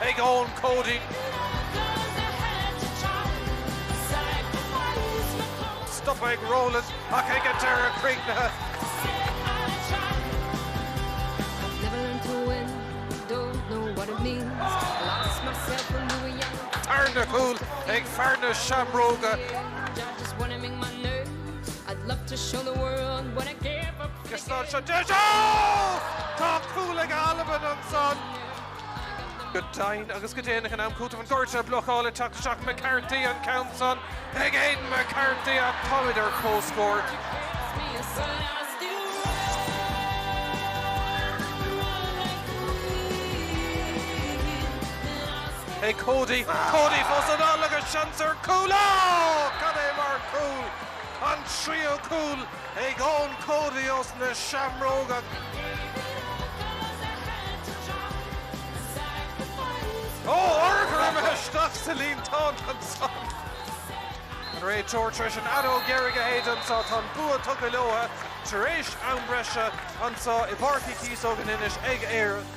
ag Eoin Cody. Stop ag Rowland ach ag an deireadh críochnaithe. Tarna cúl ag fear na seamróga. Tá cúl ag Albain ansan. Go deimhin agus go déanach in am cúitimh An gcúirt blocáil ag teacht isteach McCarthy an ceann san chuig Aidan McCarthy a. Táimid ar comhscór. Cody, Cody fós i ndán agus seans ar Cúl. Ó! Cad é mar chúl! An tríú cúl ag Eoin Cody os na Seamróga. Ó, óir go raibh mé isteach sa líontán annso! An réiteoir tar éis an fheadóg dheiridh a shéideadh annso, tá an bua tugtha leobhtha tar éis am breise annso i bPáirc Uí Chíosóig in Inis ag Éirinn.